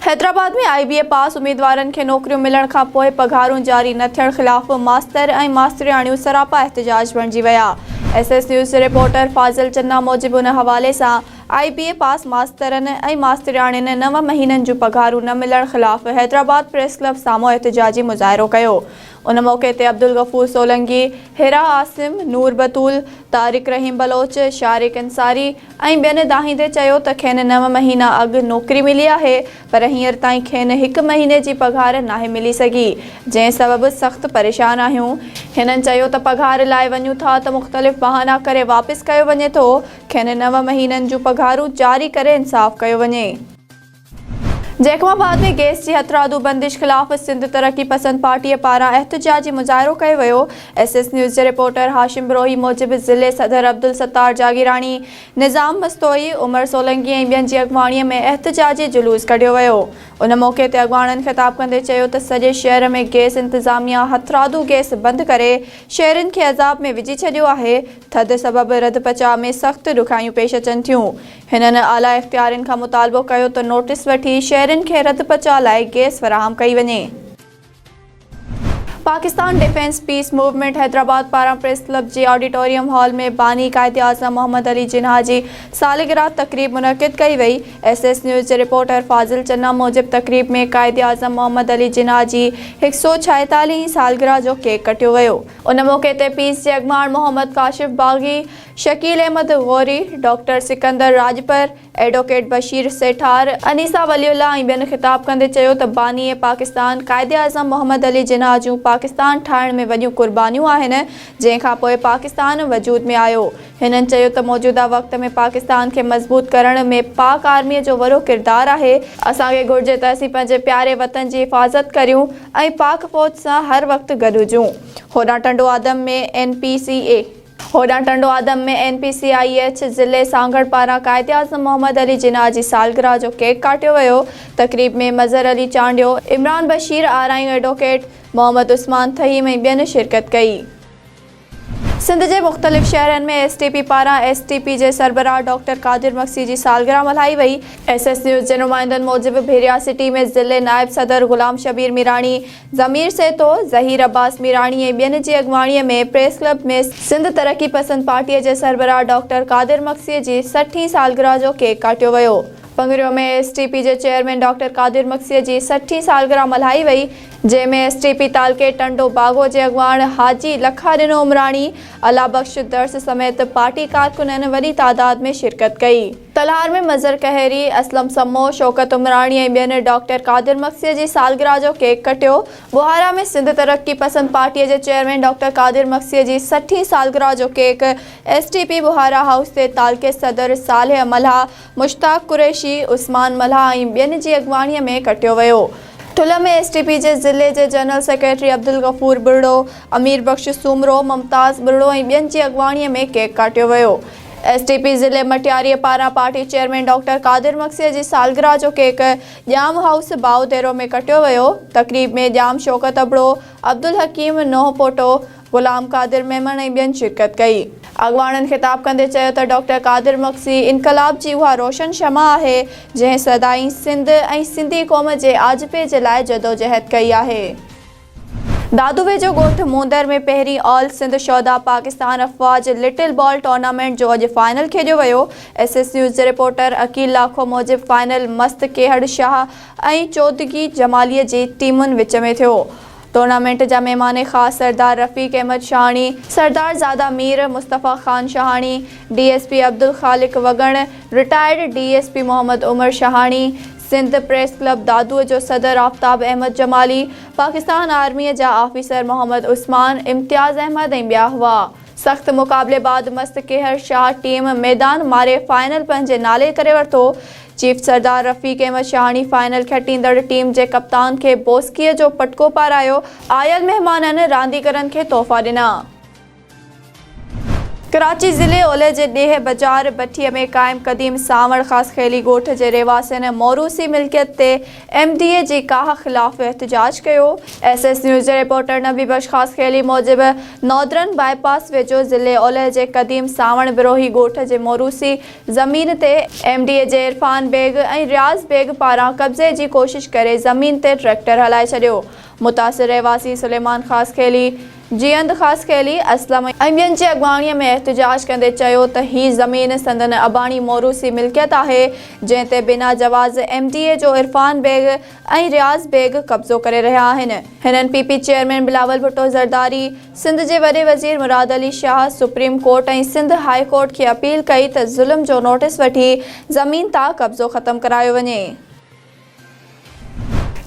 Hyderabad ۾ I B A pass اميدوارن کي نوڪريون ملڻ کان پوء پگهارون جاري نه ٿيڻ خلاف ماستر ۽ ماسترياڻيون سراپا احتجاج بڻجي ويا ايس ايس نيوز جي رپورٽر فاضل چنا موجب ان حوالي سان آء بي اي پاس ماسترن ۽ ماسترياڻين نو مهينن جون پگهارون نه ملڻ خلاف حيدرآباد پريس ڪلب سامهون احتجاجي مظاهرو ڪيو ان موقعي تي عبدالغفور سولنگي، حرا عاصم، نور بتول، طارق رحيم بلوچ، شارق انصاري ۽ ٻين دانهيندي چيو ته کين نو مهينا اڳ نوڪري ملي آهي پر هينئر تائين کين هڪ مهيني جي پگهار ناهي ملي سگهي جنهن سبب سخت پريشان آهيون. هنن چيو ته پگهار لاء وڃون ٿا ته مختلف بهانا ڪري واپس ڪيو وڃي ٿو، کين نو مهينن جون پگهارون جاري ڪري انصاف ڪيو وڃي. جيڪب آباد ۾ گئس جي هٿرادو بندش خلاف سنڌ ترقي پسند پارٽي پاران احتجاجي مظاهرو ڪيو ويو، ايس ايس نيوز جي رپورٽر هاشم بروهي موجب ضلعي صدر عبدالستار جاگيراڻي، نظام مستوئي، عمر سولنگي ۽ ٻين جي اڳواڻي ۾ احتجاجي جلوس ڪڍيو ويو، ان موقعي تي اڳواڻن خطاب ڪندي چيو ته سڄي شهر ۾ گئس انتظاميا هٿرادو گئس بند ڪري شهرين کي عذاب ۾ وجهي ڇڏيو آهي، ٿڌ سبب رڌپچاء ۾ سخت ڏکيائيون پيش اچن ٿيون، هنن اعليٰ اختيارين کان مطالبو ڪيو ته نوٽيس وٺي شهرين کي رڌ پچاء لاء گئس فراهم ڪئي وڃي. Pakistan defence peace movement Hyderabad پاران پريس ڪلب جي آڊيٽوريم هال ۾ باني قائداعظم محمد علي جناح جي سالگرهه تقريب منعقد ڪئي وئي. ايس ايس نيوز جي رپورٽر فاضل چنا موجب تقريب ۾ قائداعظم محمد علي جناح جي هڪ سئو ڇاهيتاليهين سالگرهه جو ڪيڪ ڪٽيو ويو. ان موقعي تي پيس جي اڳواڻ محمد ڪاشف باغي، شڪيل احمد غوري، ڊاڪٽر سڪندر راڄپر، ايڊووڪيٽ بشير سيٺار، انيسا ولي الله ۽ ٻين خطاب ڪندي چيو ته باني پاڪستان قائداعظم محمد علي جناح جون پاڪستان ٺاهڻ ۾ وڏيون قربانيون آهن جنهن کانپوء پاڪستان وجود ۾ آيو هنن چيو ته موجوده وقت ۾ پاڪستان کي مضبوط ڪرڻ ۾ پاڪ آرمي جو وڏو ڪردار آهي، اسان کي گهرجي ته اسين پنهنجي پياري وطن جي حفاظت ڪريون ۽ پاڪ فوج سان هر وقت گڏ هجون هوڏانهن Tando Adam ۾ N P C A. هوڏانهن Tando Adam ۾ N P C I H ضلعي سانگهڙ پاران قائداعظم محمد علي جناح جي سالگرهه جو ڪيڪ ڪاٽيو ويو، تقريب ۾ مظهر علي چانڊيو، عمران بشير آرائيون ايڊووڪيٽ، محمد عثمان ٿهيم ۽ ٻين شرڪت ڪئي. سنڌ جي مختلف شهرن ۾ ايس ٽي پي پاران ايس ٽي پي جي سربراهه ڊاڪٽر قادر مگسي جي سالگرهه ملهائي وئي. ايس ايس نيوز جي نمائندن موجب ڀيرياسٽي ۾ ضلعي نائب صدر غلام شبير ميراڻي، ضمير سهتو، ظهير عباس ميراڻي ۽ ٻين جي اڳواڻيء ۾ پريس ڪلب ۾ سنڌ ترقي پسند پارٽيء جي سربراهه ڊاڪٽر قادر مگسيء جي سٺ هين سالگرهه جو ڪيڪ ڪاٽيو ويو. پڱريو ۾ ايس ٽي پي جي چيئرمين ڊاڪٽر قادر مگسيء جي سٺ هين سالگرهه ملهائي وئي، جنهن ۾ ايس ٽي پي تعلقي ٽنڊو باگو جي اڳواڻ حاجي لکا ڏنو عمراڻي، الله بخش درس سميت پارٽي ڪارڪنن وڏي تعداد ۾ شرڪت ڪئي. تلهار ۾ مظهر قهري، اسلم سمو، شوڪت عمراڻي ۽ ٻين ڊاڪٽر قادر مگسيء جي سالگرهه جو ڪيڪ ڪٽيو. ٻهارا ۾ سنڌ ترقي پسند پارٽيء جي چيئرمين ڊاڪٽر قادر مگسيء جي سٺين سالگرهه جو cake S T P Bahara house تي تعلقي صدر صالح ملهه، مشتاق قريشي، عثمان ملهه ۽ ٻين جي اڳواڻيء ۾ ڪٽيو ويو. ٺلهه ۾ ايس ٽي پي جي ضلعي جي جنرل سيڪريٽري عبدالغفور ٻرڙو، امير بخش سومرو، ممتاز ٻرڙو ۽ ٻين جي اڳواڻيء ۾ ڪيڪ ڪاٽيو ويو. ايس ٽي پي ضلعي مٽياريء پاران پارٽي چيئرمين ڊاڪٽر قادر مگسيء جي سالگرهه جو ڪيڪ ڄام هائوس باهه ديرو ۾ ڪٽيو ويو، تقريب ۾ ڄام شوڪت ابڙو، عبدالحڪيم نوحپوٽو، غلام قادر ميمڻ ۽ ٻين شرڪت ڪئي. اڳواڻن خطاب ڪندي چيو ته ڊاڪٽر قادر مگسي انقلاب جي اها روشن شمع آهي، جنهن سدائين سنڌ ۽ سنڌي قوم جي آجپي جي لاء جدوجهد ڪئي آهي. دادوي جو ڳوٺ موندر ۾ پهرين آل سنڌ شهدا پاڪستان افواج لٽل بال ٽورنامينٽ جو اڄ فائنل کيڏيو ويو، ايس ايس نيوز جي رپورٽر عقيل لاکو موجب فائنل مست ڪيهڙ شاهه ۽ چودگي جمالي جي ٽيمن وچ ۾ ٿيو، ٽورنامينٽ جا مهمان خاص سردار رفيق احمد شاهاڻي، سردار زاده Mir Mustafa Khan Shahani, D S P Abdul Khaliq Wagan, retired D S P Muhammad Umar Shahani, Sindh press club دادوء جو صدر آفتاب احمد جمالي، پاڪستان آرميء جا آفيسر محمد عثمان، امتياز احمد ۽ ٻيا هئا. سخت مقابلي بعد مست ڪيهر شاهه ٽيم ميدان ماري فائنل پنهنجي نالي ڪري ورتو. چيف سردار رفيق احمد شاهاڻي فائنل کٽيندڙ ٽيم جي ڪپتان کي بوسڪيء جو پٽڪو پارايو، آيل مهمانن رانديگرن کي تحفا ڏنا. ڪراچي ضلعي اولهه جي ڏيهه بجار بٺي ۾ قائم قديم سانوڻ خاص خيلي ڳوٺ جي رهواسين موروثي ملڪيت تي ايم ڊي اي جي ڪاهه خلاف احتجاج ڪيو. ايس ايس نيوز جي رپورٽر نبي بخش خاص خيلي موجب نودرن بائي پاس ويجهو ضلعي اولهه جي قديم سانوڻ بروهي ڳوٺ جي موروثي زمين تي ايم ڊي اي جي عرفان بيگ ۽ رياض بيگ پاران قبضي جي ڪوشش ڪري زمين تي ٽريڪٽر هلائي ڇڏيو متاثر رهواسي سليمان خاصخيلي، جيئند خاصخيلي، اسلم ۽ ٻين جي اڳواڻيء ۾ احتجاج ڪندي چيو ته هي زمين سندن اباڻي موروثي ملڪيت آهي، جنهن تي بنا جواز ايم ڊي اي جو عرفان بيگ ۽ رياض بيگ قبضو ڪري رهيا آهن. هنن P P chairman Bilawal Bhutto Zardari, Sindh جي وڏي وزير Murad Ali Shah, supreme court ۽ Sindh high court کي اپيل ڪئي ته ظلم جو نوٽيس وٺي زمين تان قبضو ختم ڪرايو وڃي.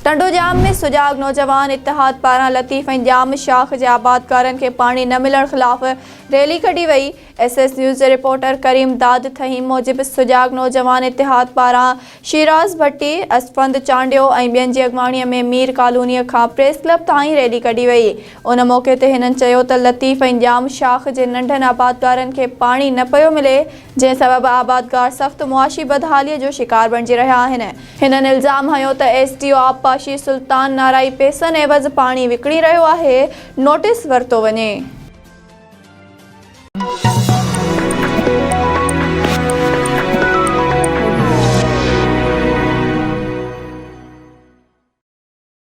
ٽنڊوڄام ۾ سجاڳ نوجوان اتحاد پاران لطيف ۽ ڄام شاخ جي آبادگارن کي پاڻي نه ملڻ خلاف ريلي ڪڍي وئي. ايس ايس نيوز جي رپورٽر ڪريم داد ٿهيم موجب سجاڳ نوجوان اتحاد پاران شيراز ڀٽي، اسفند چانڊيو ۽ ٻين جي اڳواڻي ۾ مير ڪالوني کان پريس ڪلب تائين ريلي ڪڍي وئي. ان موقعي تي هنن چيو ته لطيف ۽ ڄام شاخ جي ننڍن آبادگارن کي پاڻي نه پيو ملي، جنهن سبب آبادگار سخت معاشي بدحاليء جو شڪار بڻجي رهيا آهن. هنن الزام هنيو ته ايس ڊي او آبپاشي سلطان نارائي پيسن عيوض پاڻي وڪڻي رهيو آهي، نوٽيس ورتو وڃي.